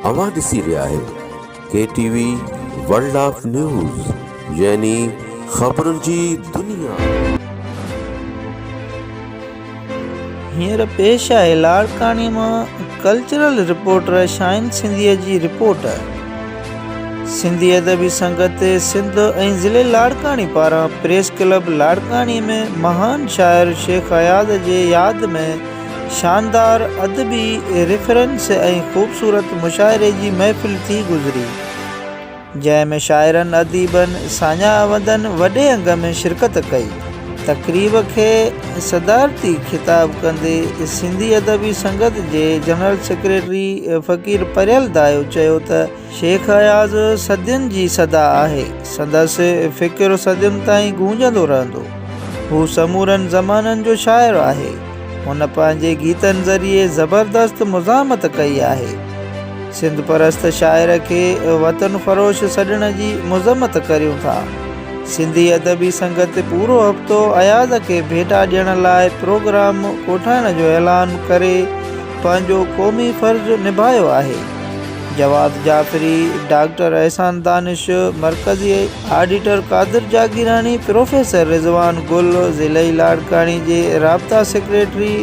اوهان ڏسي رهيا آهيو K T V world of news يعني خبرن جي دنيا. هينئر پيش آهي لاڙڪاڻي مان ڪلچرل رپورٽر شاهين سنڌيء جي رپورٽ. سنڌي ادبي سنگت سنڌ ۽ ضلع لاڙڪاڻي پاران پريس ڪلب لاڙڪاڻي ۾ مهان شاعر شيخ اياز جي ياد ۾ شاندار ادبي ريفرنس ۽ خوبصورت مشاعري جي محفل ٿي گذري، جنهن ۾ شاعرن، اديبن، ساڃاهوندن وڏي انگ ۾ شرڪت ڪئي. تقريب کي صدارتي خطاب ڪندي سنڌي ادبي سنگت جي جنرل سيڪريٽري فقير پريل دايو چيو ته، شيخ اياز صدين جي صدا آهي، سندس فڪر صدين تائين گونجندو رهندو. هو سمورن زمانن جو شاعر آهي. هن پنهنجي گيتن ذريعي زبردست مزاحمت ڪئي آهي. سنڌ پرست شاعر کي وطن فروش سڏڻ جي مذمت ڪريون ٿا. سنڌي ادبي سنگت پورو هفتو اياز کي ڀيٽا ڏيڻ لاء پروگرام ڪوٺائڻ جو اعلان ڪري پنهنجو قومي فرض نڀايو آهي. جواد جعفري، ڊاڪٽر احسان دانش، مرڪزي آڊيٽر قادر جاگيراڻي، پروفيسر رضوان گل، ضلعي لاڙڪاڻي جي رابطا سيڪريٽري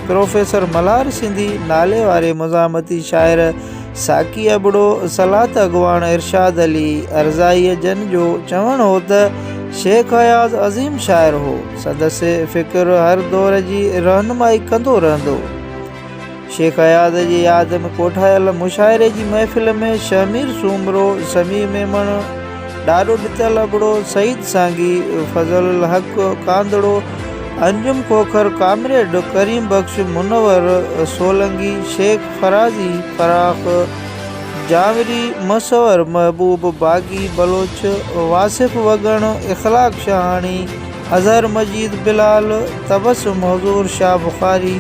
پروفيسر ملهار سنڌي، ناليواري مزاحمتي شاعر ساقي ابڙو، صلات اڳواڻ ارشاد علي عرزائي جن جو چوڻ هو ته شيخ اياز عظيم شاعر هو، سندس فڪر هر دور جي رهنمائي ڪندو رهندو. شيخ اياز جي ياد ۾ ڪوٺايل مشاعري جي محفل ۾ شهمير سومرو، سميع ميمڻ، ڏاڏو ڏتل ابڙو، سعيد سانگي، فضل الحق ڪانڌڙو، انجم کوکر، ڪامريڊ ڪريم بخش، منور سولنگي، شيخ فرازي، فراخ جانوري، مصور محبوب، باغي بلوچ، واصف وڳڻ، اخلاق شاهاڻي، اظهر مجيد بلال، تبسم حضور، شاهه بخاري،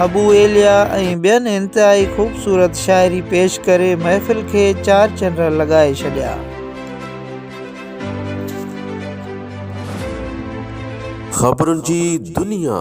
ابو ايليا ۽ ٻين انتهائي خوبصورت شاعري پيش ڪري محفل کي چار چنڊ لڳائي ڇڏيا. خبرن جي دنيا.